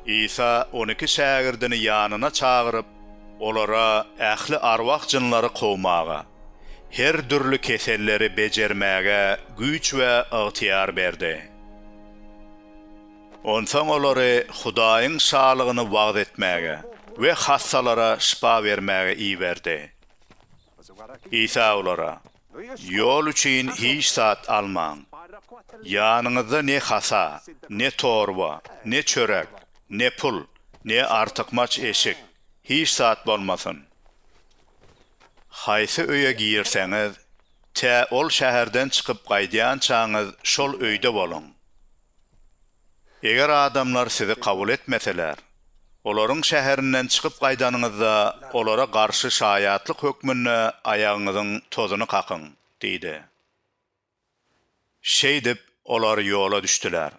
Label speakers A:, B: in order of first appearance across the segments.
A: Isa on iki şägirdini ýanyna çagyryp, olara ähli arwah-jynlary kowmaga, her dürli keselleri bejermäge güýç we ygtyýar berdi. Onsoň olary Hudaýyň Şalygyny wagyz etmäge we hassalara şypa bermäge iberdi. Isa olara, Ýol üçin hiç zat almaň. Ýanyňyzda ne hasa, ne torba, ne çörek, ne pul, ne artykmaç eşik, hiç zat bolmasyn. Haýsy öýe girseňiz, tä ol şäherden çykyp gaýdýançaňyz şol öýde boluň. Eger adamlar sizi kabul etmeseler, olaryň şäherinden çykyp gaýdanyňyzda, olara garşy şaýatlyk hökmünde aýagyňyzyň tozuny kakyň diýdi. Şeýdip, olar ýola düşdüler.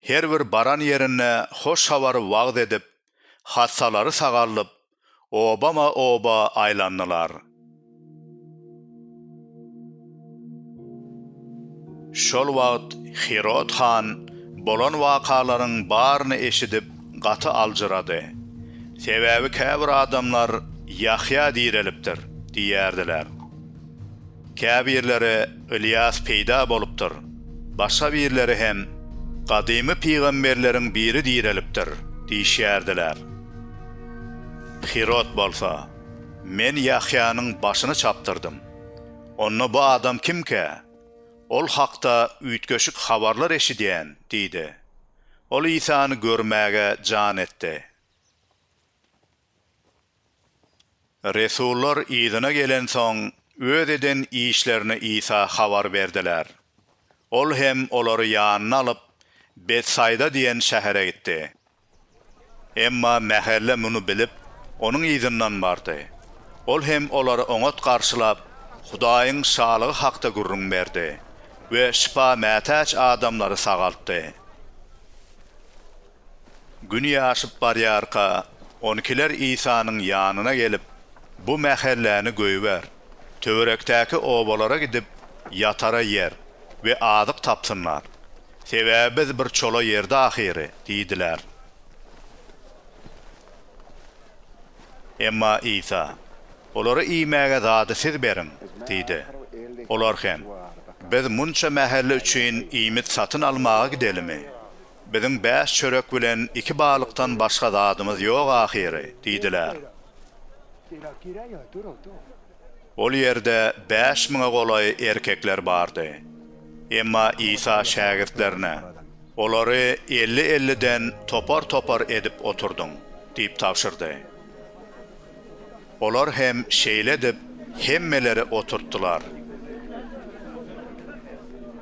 A: Her bir baran ýerinde hoş habary wagyz edip, hassalary sagaldyp, obama-oba aýlandylar. Şol wagt Hirod han bolan wakalaryň baryny eşidip, gaty aljyrady. Sebäbi käbir adamlar, Ýahýa direlipdir! diýýärdiler. Käbirleri Ylýas peýda bolupdyr, başga birleri hem gadymy pygamberleriň biri direlipdir diýişýärdiler. Hirod bolsa, Men Ýahýanyň başyny çapdyrdym. Onda bu adam kimkä? Ol hakda üýtgeşik habarlar eşidýän diýdi. Ol Isany görmäge jan etdi. Resullar yzyna gelensoň, öz eden işlerini Isa habar berdiler. Ol hem olary ýanyna alyp, Betsaýda diýen şähere gitdi. Emma mähelle muny bilip, onuň yzyndan bardy. Ol hem olary oňat garşylap, Hudaýyň Şalygy hakda gürrüň berdi we şypa mätäç adamlary sagaltdy. Gün ýaşyp barýarka, on ikiler Isanyň ýanyna gelip, Bu mähelläni goýber. Töwerekdäki obalara gidip, ýatara ýer we azyk tapsynlar. Sebäbi biz bir çola ýerde ahyry diýdiler. Emma Isa, Olara iýmäge zady siz beriň diýdi. Olar hem, Biz munça mähelle üçin iýmit satyn almaga gidelimi? Biziň bäş çörek bilen iki balykdan başga zadymyz ýok ahyry, diýdiler. Ol ýerde bäş müňe golaý erkekler bardy. Emma Isa şägirtlerine, Olary elli-elliden topar-topar edip oturdyň, diýip tabşyrdy. Olar hem şeýle edip, hemmeleri oturtdylar.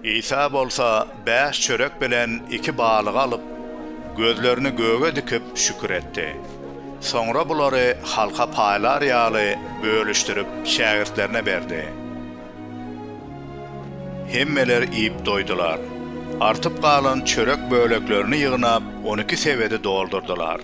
A: Isa bolsa bäş çörek bilen iki balygy alyp, gözlerini göge dikip, şükür etdi. Soňra bulary halka paýlar ýaly bölüşdirip, şägirtlerine berdi. Hemmeler iýip doýdular. Artyp galan çörek böleklerini ýygnap, on iki sebedi doldurdylar.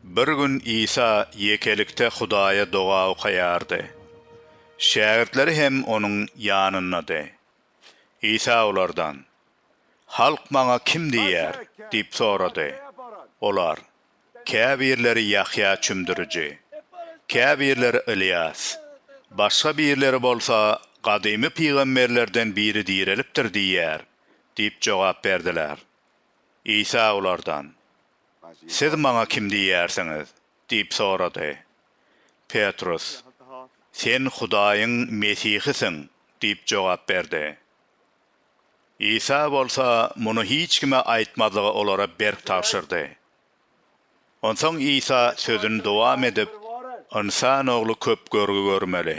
A: Bir gün Isa ýekelikde Hudaýa doga okaýardy. Şägirtleri hem onuň ýanyndady. Isa olardan, Halk maňa kim diýýär? diýip sorady. Olar, käbirleri Ýahýa Çümdüriji, käbirleri Ylýas, başga birleri bolsa gadymy pygamberlerden biri direlipdir diýýär diýip jogap berdiler. Isa olardan, Siz maňa kim diýýärsiňiz? diýip sorady. Petrus, Sen Hudaýyň Mesihisiň diýip jogap berdi. Isa bolsa muny hiç kime aýtmazlygy olara berk tabşyrdy. Onsoň Isa sözüni dowam edip, Ynsan Ogly köp görgi görmeli.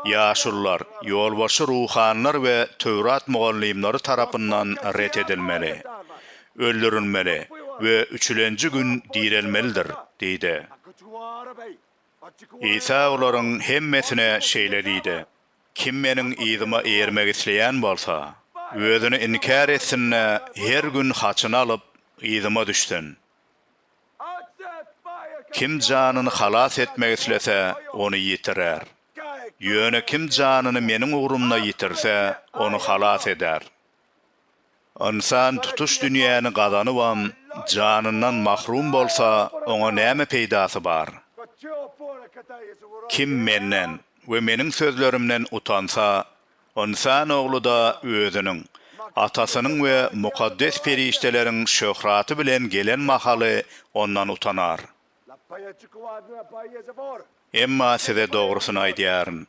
A: Ýaşulular, ýolbaşçy ruhanylar we Töwrat mugallymlary tarapyndan ret edilmeli, öldürilmeli we üçülenji gün direlmelidir diýdi. Isa olaryň hemmesine şeýle diýdi. Kim Meniň yzyma eýermek isleýän bolsa, özüni inkär etsin-de, her gün haçyny alyp, yzyma düşsün. Kim janyny halas etmek islese, ony ýitirer. Ýöne kim janyny Meniň ugrumda ýitirse, ony halas eder. Ynsan tutuş dünýäni gazanybam, janyndan mahrum bolsa, oňa näme peýdasy bar? Kim Menden we Meniň sözlerimden utansa, Ynsan Ogly-da Özüniň, Atasynyň we mukaddes perişdeleriň şöhraty bilen gelen mahaly ondan utanar. Emma size dogrusyny aýdýaryn,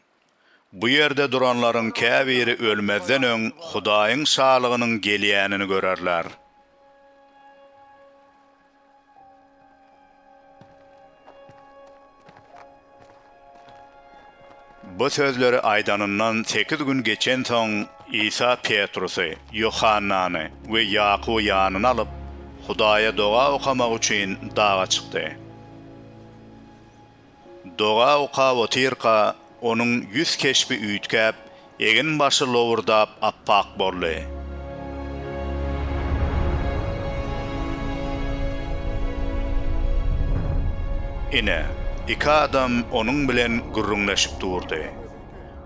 A: Bu ýerde duranlaryň käbiri ölmezden öň Hudaýyň Şalygynyň gelýänini görerler. Bu sözleri aýdanyndan sekiz gün geçensoň, Isa Petrusy, Ýohannany we Ýakuby ýanyna alyp, Hudaýa doga okamak üçin daga çykdy. Doga okap otyrka, onuň ýüz keşbi üýtgäp, egin-başy lowurdap appak boldy. Ine, iki adam onuň bilen gürrüňleşip durdy.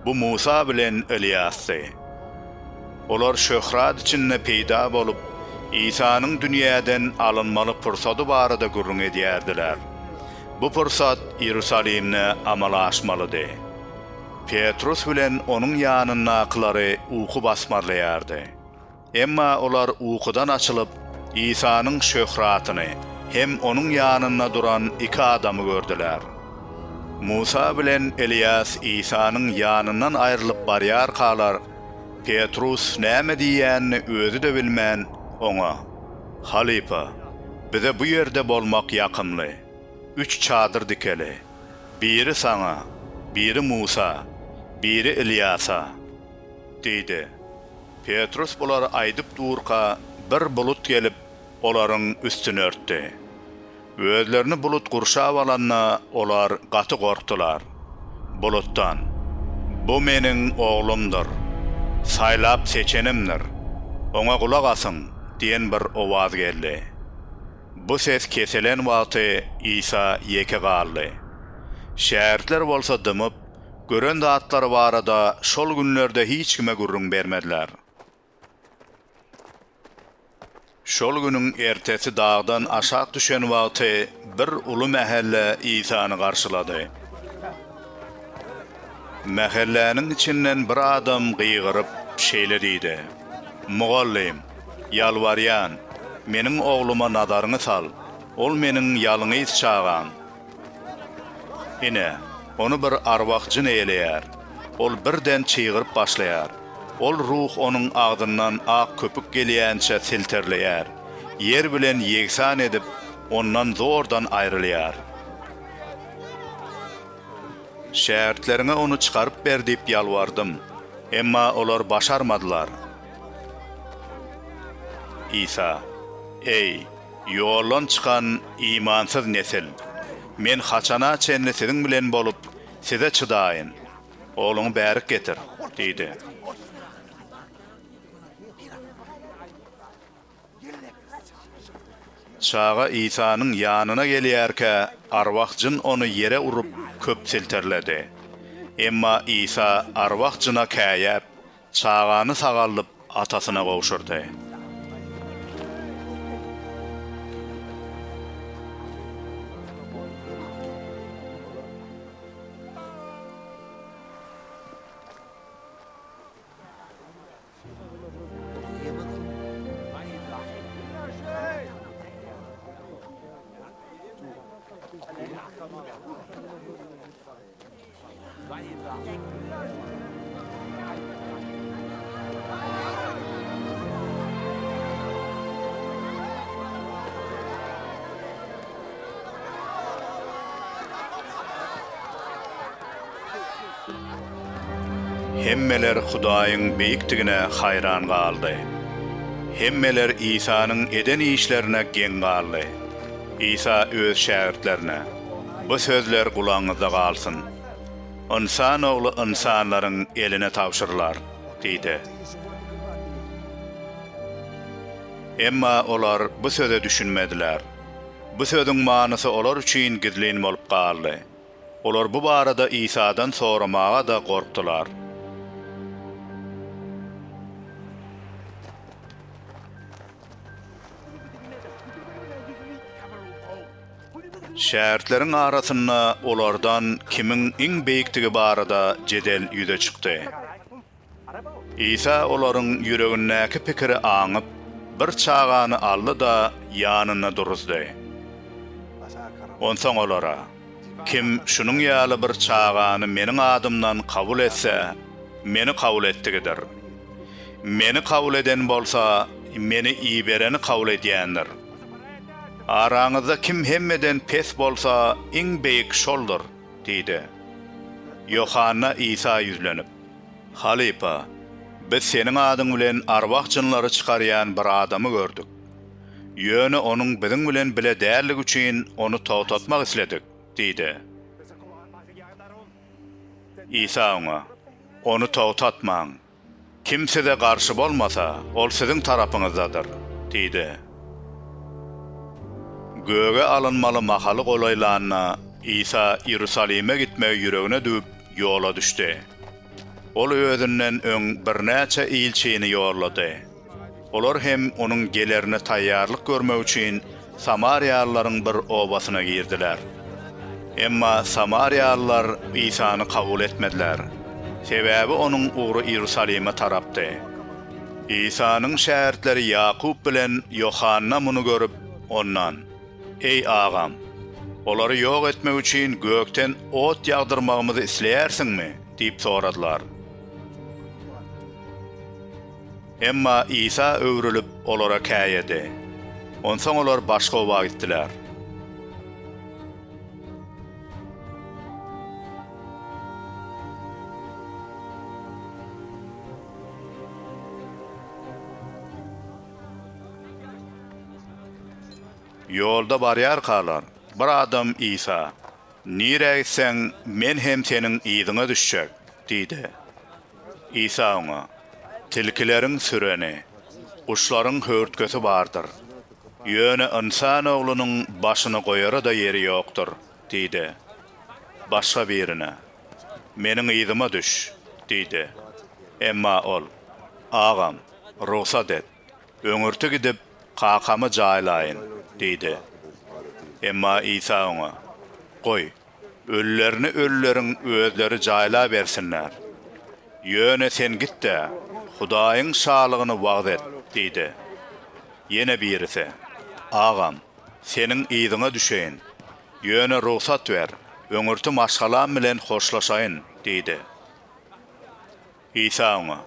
A: Bu Musa bilen Ylýasdy. Olar şöhrat içinde peýda bolup, Isanyň dünýäden alynmaly pursady barada gürrüň edýärdiler. Bu pursat Iýerusalimde amala aşmalydy. Petrus bilen onuň ýanyndakylary uky basmarlaýardy. Emma olar ukudan açylyp, Isanyň şöhratyny hem onuň ýanynda duran iki adamy gördüler. Musa bilen Eliýas Isanyň ýanyndan aýrylyp barýarkalar, Petrus näme diýýänini özi-de bilmän, oňa. Halypa, bize bu ýerde bolmak ýakymly. Üç çadyr dikeli. Biri saňa, biri Musa, biri Ylýasa, diýdi. Petrus bulary aýdyp durka, bir bulut gelip, olaryň üstüni örtdi. Özlerini bulut gurşap alanda, olar gaty gorkdular. Bulutdan, Bu Meniň Oglumdyr. Saýlap seçenimdir. Oňa gulak asyň! diýen bir owaz geldi. Bu ses kesilen wagty Isa ýeke galdy. Şägirtler bolsa dymyp, gören zatlary barada şol günlerde hiç kime gürrüň bermediler. Şol günüň ertesi dagdan aşak düşen wagty bir uly mähelle Isany garşylady. Mähelläniň içinden bir adam gygyryp, şeýle diýdi, Mugallym, ýalbarýan, meniň ogluma nazaryňy sal, ol meniň ýalňyz çagam. Ine, ony bir arwah jyn eýeleýär. Ol birden çygyryp başlaýar. Ol ruh onuň agzyndan ak köpük gelýänçä selterleýär. Ýer bilen ýegsan edip, ondan zordan aýrylýar. Şägirtleriňe ony çykaryp ber diýip ýalbardym. Emma olar başarmadylar. Isa, Eý! Ýoldan çykan imansyz nesil! Men haçana çenli siziň bilen bolup, size çydaýyn? Ogluňy bärik getir! diýdi. Çaga Isanyň ýanyna gelýärkä, arwah jyn ony ýere urup, köp silterledi. Emma Isa arwah jyna käýäp, Çagany sagaldyp, atasyna gowşurdy. Hemmeler Hudaýyň beýikdigine haýran galdy. Hemmeler Isanyň eden işlerine geň galdy. Isa öz şägirtlerine. Bu sözler gulagyňyzda galsyn. Ynsan ogly ynsanlaryň eline tabşyrylar, diýdi. Emma olar bu söze düşünmediler. Bu sözüň manysy olar üçin gizlin bolup galdy. Olar bu barada Isadan soramaga-da gorkdular. Şägirtleriň arasynda olardan kimiň iň beýikdigi barada jedel ýüze çykdy. Isa olaryň ýüregindäki pikiri aňyp, bir çagany aldy-da, ýanynda duruzdy. Onsoň olara, Kim şunuň ýaly bir çagany Meniň adymdan kabul etse, Meni kabul etdigidir. Meni kabul eden bolsa, Meni ibereni kabul edýändir. Araňyzda kim hemmeden pes bolsa, iň beýik şoldur diýdi. Ýohanna Isa ýüzlenip, Halypa, biz seniň adyň bilen arwah-jynlary çykarýan bir adamy gördük. Ýöne onuň biziň bilen bile däldigi üçin ony togtatmak isledik diýdi. Isa oňa, Ony togtatmaň. Kim size garşy bolmasa, ol siziň tarapyňyzdadyr, diýdi. Göge alynmaly mahaly golaýlanda, Isa Iýerusalime gitmegi ýüregine düwüp, ýola düşdi. Ol özünden öň birnäçe ilçini ýollady. Olar hem onuň gelerine taýýarlyk görmek üçin samariýalylaryň bir obasyna girdiler. Emma samariýalylar Isany kabul etmediler, sebäbi onuň ugry Iýerusalime tarapdy. Isanyň şägirtleri Ýakup bilen Ýohanna muny görüp, ondan, Eý, agam, olary ýok etmek üçin gökden ot ýagdyrmagymyzy isleýärsiňmi? diýip soradylar. Emma Isa öwrülip, olara käýedi. Onsoň olar başga oba gitdiler. Ýolda barýarkalar, bir adam Isa, Nirä gitseň, men hem Seniň yzyňa düşjek diýdi. Isa oňa, Tilkileriň süreni, guşlaryň höwürtgesi bardyr. Ýöne Ynsan Oglunyň başyny goýara-da ýeri ýokdur diýdi. Başga birine, Meniň yzyma düş diýdi. Emma ol, Agam, rugsat et, öňürti gidip, kakamy jaýlaýyn diýdi. Emma Isa oňa, Goý, Ölülerini ölüleriň özleri jaýlabersinler. Ýöne sen git-de, Hudaýyň Şalygyny wagyz et diýdi. Ýene birisi, Agam, seniň yzyňa düşeýin. Ýöne rugsat ber, öňürti maşgalam bilen hoşlaşaýyn diýdi. Isa oňa,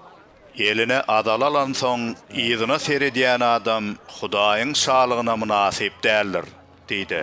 A: Eline azal alansoň, yzyna seredýän adam Hudaýyň Şalygyna mynasyp däldir diýdi.